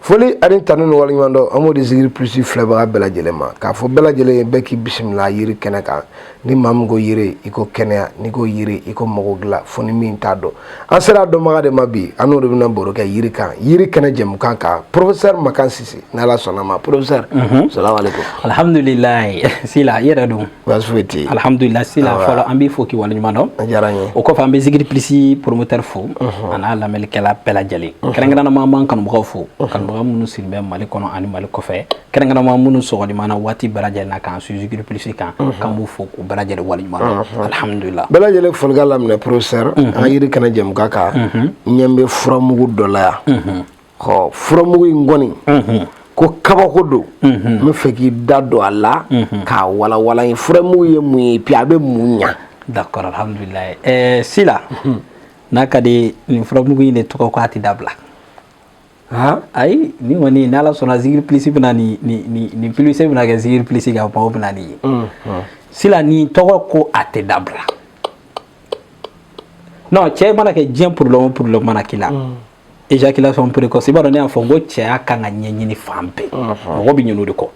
foli ani tanu ni waleɲumandɔn an b'o di zikiri plus filɛbaga bɛɛ lajɛlen ma k'a fɔ bɛɛ lajɛlen ye bɛɛ k'i bisimila yiri kɛnɛ kan ni maa min ko yiri i ko kɛnɛya n'i ko yiri i ko mago dilan fo ni min t'a dɔn an sera a dɔnbaga de ma bi an n'o de bɛna baro kɛ yiri kan yiri kɛnɛ jɛmukan kan professeur makan sise n'ala sɔnna ma professeur mhm. salamu aleykum alhamdulilayi sila i yɛrɛ don alihamdulila sila fɔlɔ an b'i fo k'i waleɲuman dɔn a diyara n ye o kɔfɛ an bɛ zikiri plus promoteur fo a n'a lamɛnnikɛla bɛɛ lajɛlen kɛrɛnkɛrɛnnama an b'an kanubagaw fo kanubaga minnu sigilen bɛ mali kɔnɔ ani mali kɔfɛ kɛrɛnkɛrɛnnama minnu sɔmana waati bɛɛ lajɛlen na k'an suivre zikiri plus kan k'an b'u fo k'u bɛɛ lajɛlen waleɲuman dɔn alihamdulila bɛɛ lajɛlen folikan laminɛ professeur an yiri kɛnɛ jɛmukan kan ɲɛ bɛ furamugu dɔ la yan ɔ furamugu in kɔni ko kabako don n bɛ fɛ k'i da don a la k'a walanwalan ye furamugu ye mun ye puis a bɛ mun ɲa d'accord alhamdulillah ɛɛ sila n'a ka di nin furamugu in de tɔgɔ ko a tɛ dabila ayi nin kɔni ni ala sɔnna zikiri plus bɛna nin nin nin plus bɛna kɛ zikiri plus ka maaw bɛna nin ye sila nin tɔgɔ ko a tɛ dabila non cɛ mana kɛ diɲɛ problème o problème mana k'i la éjaculation précoce i b'a dɔn ne y'a fɔ n ko cɛya kan ka ɲɛɲini fan bɛɛ mɔgɔ bɛ ɲin'o de kɔ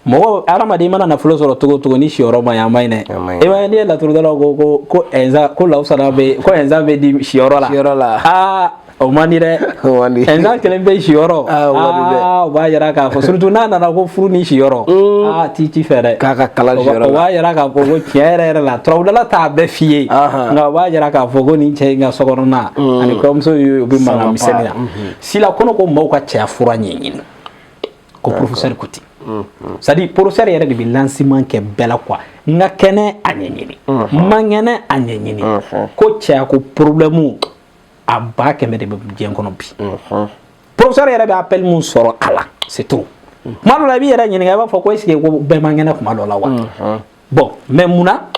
mɔgɔ hadamaden mana nafolo sɔrɔ cogo o cogo ni siyɔrɔ man ɲi a man ɲi dɛ i b'a ye n'i ye laturudala ko ko ko ɛnza ko lawusana bɛ ko ɛnza bɛ di siyɔrɔ la siyɔrɔ la aa o man di dɛ ɛnza kelen bɛ siyɔrɔ aa o b'a yira k'a fɔ surtout n'a nana ko furu ni siyɔrɔ aa ti ci fɛ dɛ k'a ka kalan siyɔrɔ la o b'a yira k'a fɔ ko tiɲɛ yɛrɛ yɛrɛ la turabudala t'a bɛɛ f'i ye nka o b'a yira k'a fɔ ko nin cɛ in ka sokɔnɔna mm. ani kɔɲɔmuso ye u bɛ mankan misɛnnin na mm-hmm. sila kɔnɔ ko maaw ka cɛya fura ɲɛɲini ko professeur ko ten mm-hmm. c'est à dire professeur yɛrɛ de bɛ lancement kɛ bɛɛ la quoi n ka kɛnɛ a ɲɛɲini mm-hmm. n man kɛnɛ a ɲɛɲini ko cɛya ko problème a ba kɛmɛ de bɛ diɲɛ kɔnɔ bi professeur yɛrɛ bɛ appel min sɔrɔ a la c'est tout kuma dɔ la i b'i yɛrɛ ɲininka i b'a fɔ ko est ce que ko bɛɛ man kɛnɛ kuma dɔ la wa bon mais mun na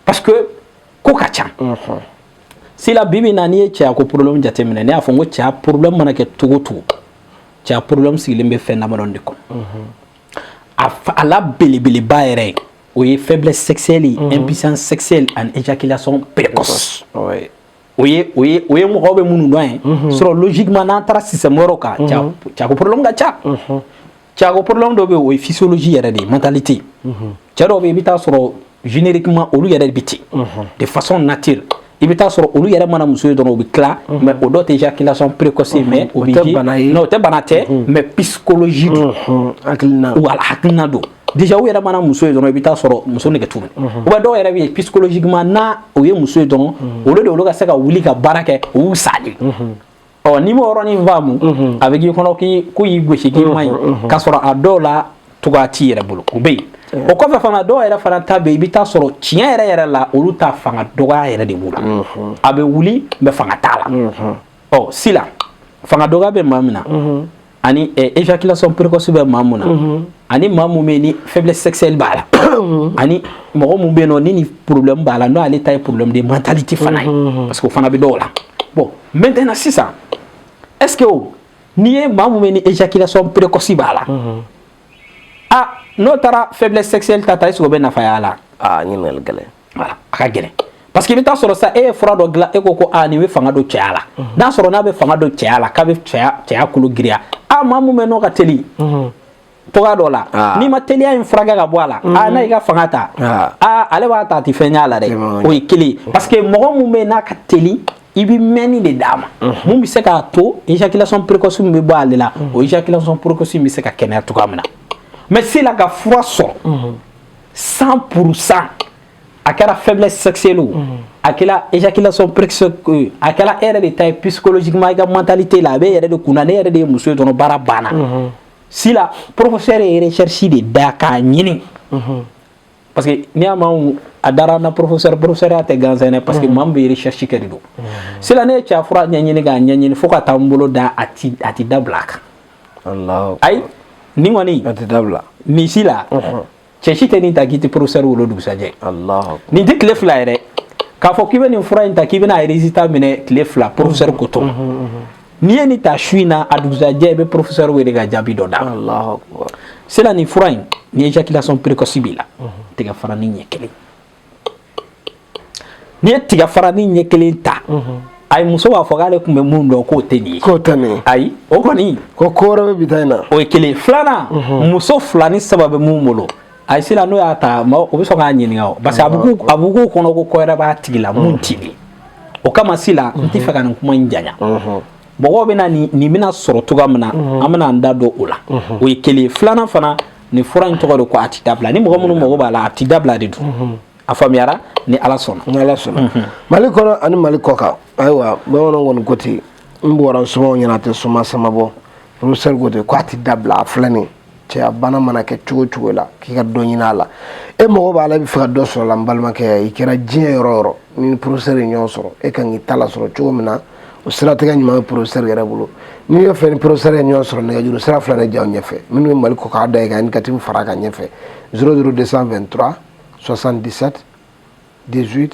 parce que ko ka ca sila bibi na n'i ye cɛya ko problème jateminɛ ne y'a fɔ n ko cɛya problème mana kɛ cogo o cogo cɛya problème sigilen bɛ fɛn damadɔ de kɔnɔ a a la belebeleba yɛrɛ ye o ye faiblesse sexuelle ye impuissance sexuelle ani éjaculation précoce o ye o ye o ye mɔgɔw bɛ minnu dɔn ye sɔrɔ logiquement n'an taara système wɛrɛw kan cɛya ko problème ka ca Cɛya ko problème dɔ bɛ yen o ye physiologie yɛrɛ de ye mentalité cɛ dɔw bɛ yen i bɛ taa sɔrɔ génériquement olu yɛrɛ bɛ ten de façon nature i bɛ taa sɔrɔ olu yɛrɛ mana muso ye dɔrɔn u bɛ tila mais o dɔ tɛ éjaculation précoce mais o o tɛ bana tɛ mais psychologie don wala hakilina don déjà u yɛrɛ mana muso ye dɔrɔn i bɛ taa sɔrɔ muso nege t'u minɛ ou bien dɔw yɛrɛ bɛ yen psychologiquement n'u ye muso ye dɔrɔn olu de olu ka se ka wuli ka baara kɛ u sa ɔ n'i m'o yɔrɔnin faamu mhm. a bɛ k'i kɔnɔ k'u y'i gosi k'i man ɲi k'a sɔrɔ a dɔw la cogoya t'i yɛrɛ bolo o bɛ yen o kɔfɛ fana dɔw yɛrɛ fana ta bɛ yen i bɛ taa sɔrɔ tiɲɛ yɛrɛ yɛrɛ la olu ta fanga dɔgɔya yɛrɛ de b'u la a bɛ wuli mais fanga t'a la ɔ sila fanga dɔgɔya bɛ maa min na ani éjaculation eh, précoce bɛ maa mun na mhm. ani maa mun bɛ ni faiblesse sexuelle b'a la mhm. ani mɔgɔ mun bɛ yen n'o ni nin problème b'a la n'o ale ta ye problème de mentalité fana ye mhm. parce que o fana bɛ dɔw la bon maintenant sisan est ce que o n'i ye maa mun bɛ ni éjaculation précoce b'a la a n'o taara faiblesse sexuelle ta ta est ce que o bɛ nafa y'a la aa ɲininkali gɛlɛn voilà a ka gɛlɛn parce que i bɛ taa sɔrɔ sa e ye fura dɔ dilan e ko ko aa nin bɛ fanga don cɛya la n'a sɔrɔ n'a bɛ fanga don cɛya la k'a bɛ cɛya cɛya kolo giriya a maa mun bɛ n'o ka teli cogoya dɔ la n'i ma teliya in furakɛ ka bɔ a la a n'a y'i ka fanga ta a ale b'a ta a tɛ fɛn ɲ'a la dɛ o ye kelen parce que mɔgɔ mun bɛ yen n'a ka teli i bɛ mɛnni de d'a ma mun bɛ se k'a to ejakilasɔn perekosi min bɛ bɔ ale la o ejakilasɔn perekosi bɛ se ka kɛnɛya cogoya min na mɛ se la ka fura sɔrɔ san puru san a kɛra fɛnlɛ sɛsɛli a kɛra ejakilasɔn perekiso a kɛra e yɛrɛ de ta ye pkɔlɔsima i ka mantali tɛ la a bɛ yɛrɛ de kun na ne yɛrɛ de ye muso dɔrɔn baara banna si la porokisɛsɛ yɛrɛcsi de da k'a ɲini parce que n'i y'a mɛn a dara n na professeur professeurya tɛ gansan dɛ parce que maa min bɛ recherche kɛ de don sila ne ye cɛya fura ɲɛɲini k'a ɲɛɲini fo ka taa n bolo da a ti a ti dabila a kan ayi nin kɔni a ti dabila nin sila cɛ si tɛ nin ta k'i tɛ professeur wele o dugusajɛ nin tɛ tile fila yɛrɛ k'a fɔ k'i bɛ nin fura in ta k'i bɛna résultat minɛ tile fila professeur ko to N'i ye nin ta su in na a dugusajɛ i bɛ professeur wele ka jaabi dɔ d'a ma, Alahu akibaru, sila nin fura in ni éjaculation précoce b'i la tiga faranin ɲɛ kelen n'i ye tiga faranin ɲɛ kelen ta ayi muso b'a fɔ k'ale tun bɛ mun dɔn k'o tɛ nin ye k'o tɛ nin ye ayi o kɔni ko ko wɛrɛ bɛ bi ta in na o ye kelen filanan muso fila ni saba bɛ mun bolo ayi sila n'o y'a ta o bɛ sɔn k'a ɲininka o parce que a bɛ k'u kɔnɔ ko ko wɛrɛ b'a tigi la mun t'i ye o kama sila n tɛ fɛ ka nin kuma in janya mɔgɔw bɛna nin nin bɛna sɔrɔ cogoya min na an bɛna an da don o la o ye kelen filanan fana nin fura in tɔgɔ de ko a tɛ dabila ni mɔgɔ minnu mago b'a la a tɛ dabila de don a faamuyara ni ala sɔnna ni ala sɔnna mali kɔnɔ ani mali kɔkan ayiwa bamananw kɔni ko ten n bɔra sumaw ɲɛna a tɛ suma sama bɔ professeur ko ten ko a tɛ dabila a filɛ nin cɛya bana mana kɛ cogo cogo la k'i ka dɔ ɲini a la e mago b'a la i bɛ fɛ ka dɔ sɔrɔ la n balimakɛ i kɛra diɲɛ yɔrɔ yɔrɔ ni professeur ye ɲɔgɔn sɔrɔ e kan k'i ta la sɔrɔ cogo min na o siratigɛ ɲuman bɛ professeur yɛrɛ bolo n'i ye fɛ ni professeur ye ɲɔgɔn sɔrɔ nɛgɛjuru sira fila de y'aw ɲɛfɛ minnu bɛ mali kɔkan na i ka indicatif far'a kan ɲɛfɛ zéro zéro deux cent vingt trois soixante dix sept dix huit